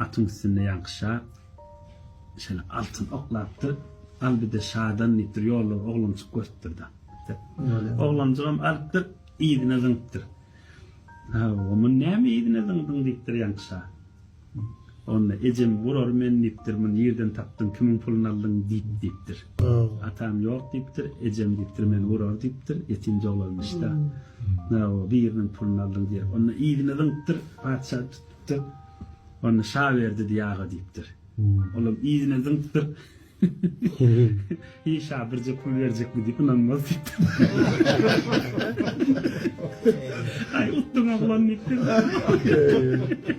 Atyň üstünde Ýaňky şa şeýle altyn oklapdyr. Al bir-de şadan diýipdir, ýollar oglanjyk görüpdir-de. Oglanjygam alypdyr, yzyna zyňypdyr. Hawa, muny näme yzyna zyňdyň diýipdir Ýaňky şa. Onda ejem gurar men diýipdir, muny nirden tapdyň, kimiň puluny aldyň diýip diýipdir. Atam ýok diýipdir, ejem diýipdir, meni gurar diýipdir, ýetimje oglanmyş-da. Merhaba, biriniň puluny aldyň diýip, onda yzyna zyňypdyr, patyşa tutupdyr. Onda şa berdi diý aga diýipdir. Olam yzyna zyňypdyr. Heý şa birje pul berjekmi diýip ynanmaz diýipdir. Aý utduň oglan diýipdir.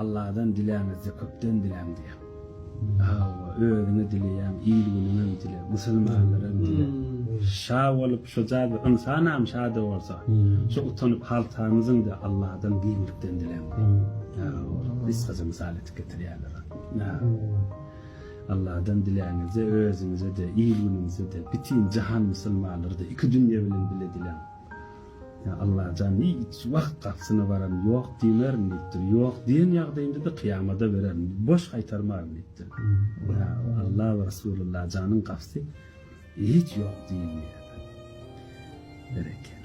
Alladan diläňizde köpden diläň diýýär. Hawa, özüňe dileýäň, il-günüňem dile, musulmanlaram dile. Şa bolup şuja bir ynsanam şa-da bolsa, şu utanyp haltamyzyň-da Alladan giňlikden diläň diýýär. Gysgaça mysal edip getirýärler ony. Alladan diläňizde özüňize-de, il-günüňize-de, bütin jahan musulmanlary-da, iki dünýe bilen bile diläň. Ýa Allajan, hiç wagt gapysyna baran ýok diýmerin diýipdir. Ýok diýen ýagdaýymda-da kyýamada bererin, boş gaýtarmaryn diýipdir. Ýa Alla we Resulallajanyň gapysy hiç ýok diýilmeýär. Berekella.